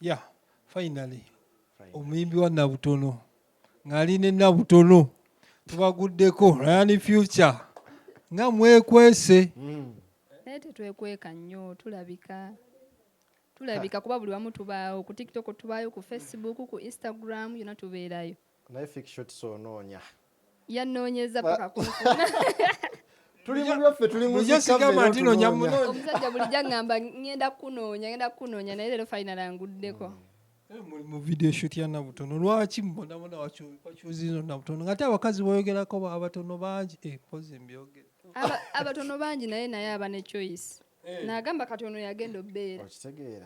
ya finally omuyimbi wa nabutono ng'ali ne nabutono tubaguddeko ryan future nga mwekwese hmm. naye tetwekweka nnyo tulabika tulabika kuba buli wamu tubaawo ku tiktok tubaayo ku facebook ku instagram yona tubeerayo naye fik shots onoonya yannoonyeza paka kunfuna tuli mu byaffe tuli mu Bulijjo zikka sigamba nti noonya munoonya. munoonya. omusajja bulijjo aŋŋamba ŋŋenda kunoonya ŋŋenda kunoonya naye leero final anguddeko Eh, muli mu video shoot ya nabutono lwaki mubonabona wakyuzino nabutono ngate abakazi boyogerako ba- abatono bangi Eh, mpozi mbyogere Aba- abatono bangi naye naye aba ne choice nagamba kati ono yagenda obeera okitegeera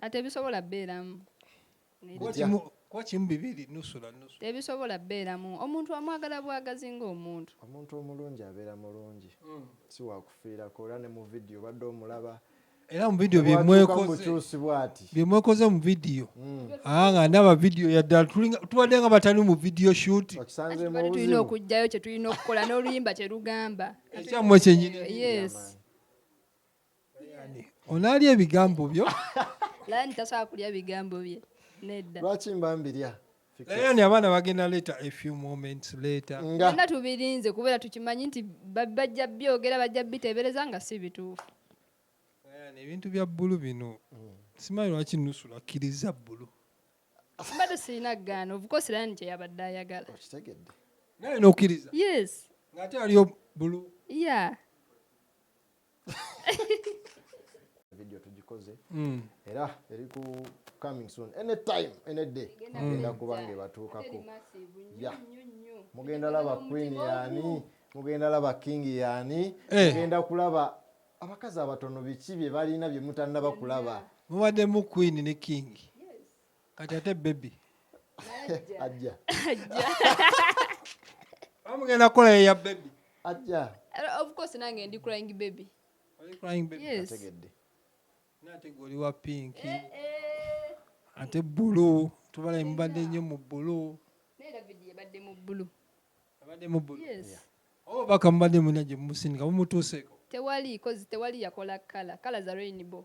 atebisobola beeramu kimu bibiri nusula nusu tebisobola beeramu omuntu amwagala bwagazi ng'omuntu omuntu omulungi abeera mulungi mm. si wakufiirako era ne mu vidiyo obadde omulaba era mu vidiyo byemwekoze mu vidiyo mm. ah, nga ndaba vidiyo yaddala tubadde nga batali mu vidiyo shuti tulina okugjayo kyetulina okukola n'oluyimba kyerugamba ekyammwe kyenyini onaalya ebigambo byo lani tasobola kulya bigambo bye nedda lwaki mba mbirya Lion abaana bagenda later a few moments later nga nga tubirinze kubera tukimanyi nti ba- bajja byogera bajja bitebereza nga si bituufu Lion, ebintu bya bbulu bino simanyi lwaki nusula akkiriza bbulu mbadde sirina gaana obukosi lani kyeyabadde ayagala okitegedde naye nokkiriza yes ng'ate aliyo bbulu ya video tugikoze mm. era eri ku coming soon any time any day mugenda kuba nga ebatuukako mugenda laba queen yani mugenda laba king yani eh. mugenda kulaba abakazi abatono biki bye balina bye mutanaba kulaba mubaddemu queen ne king kati ate bebi ajja amugenda kukola yeya bebi ajja eh, of course nange ndi crying baby ategedde nate goli wa pinki eh, eh. ate bulu tubala emubadde nnyo mu bulu abadde mu bulu abadde mu bulu oba baka mubadde muna gye mumusinika mumutuuseeko tewali kozi tewali yakola kala kala za rainbow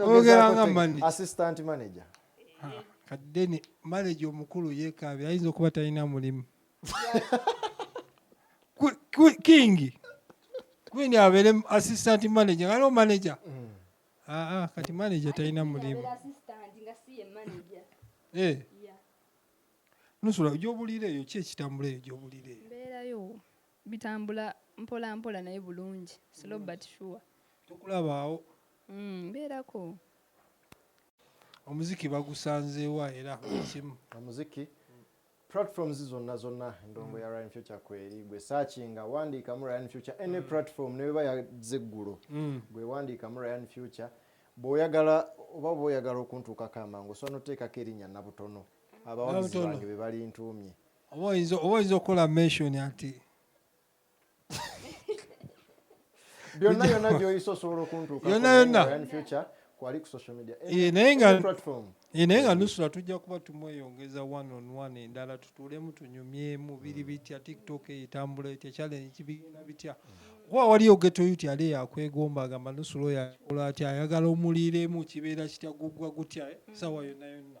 ogeranga mani assistant manager kadde ne manager omukulu yekaabye ayinza okuba talina mulimu kingi kwini abeere assistant manager ngaliwo manager mm. aa kati manager talina mulimu eh. nusula gyobulira eyo ki ekitambula eyo gyobulira eyo Bitambula mpola mpola naye bulungi, slow but sure. Tukulaba awo. Mm, mbeerako. Omuziki bagusanzeewa era buli kimu. Omuziki platforms zonna zonna endongo ya Ryan Future kweri gwe searchinga wandiikamu Ryan Future any mm. platform ne beba yazze eggulo mm. gwe wandiikamu Ryan Future bw'oyagala oba oba oyagala okuntuukako amangu osobola n'oteekako erinnya nabutono abawagizi bange be balintuumye oba oyinza oba oyinza okukola mention ati byonna yonna gyoyisa osobola okuntuuka yonna yonna kwali ku social media eh, naye nga eh, naye nga nusula tujja kuba tumweyongeza one on one endala tutuulemu tunyumyemu biri mm. bitya tiktok eyitambula etya challenge kibigenda bitya kuba waliyo getoyuti ali yakwegomba agamba nusula oyo akola atya ayagala omuliiremu kibeera kitya guggwa gutya eh, mm. sawa yonna yonna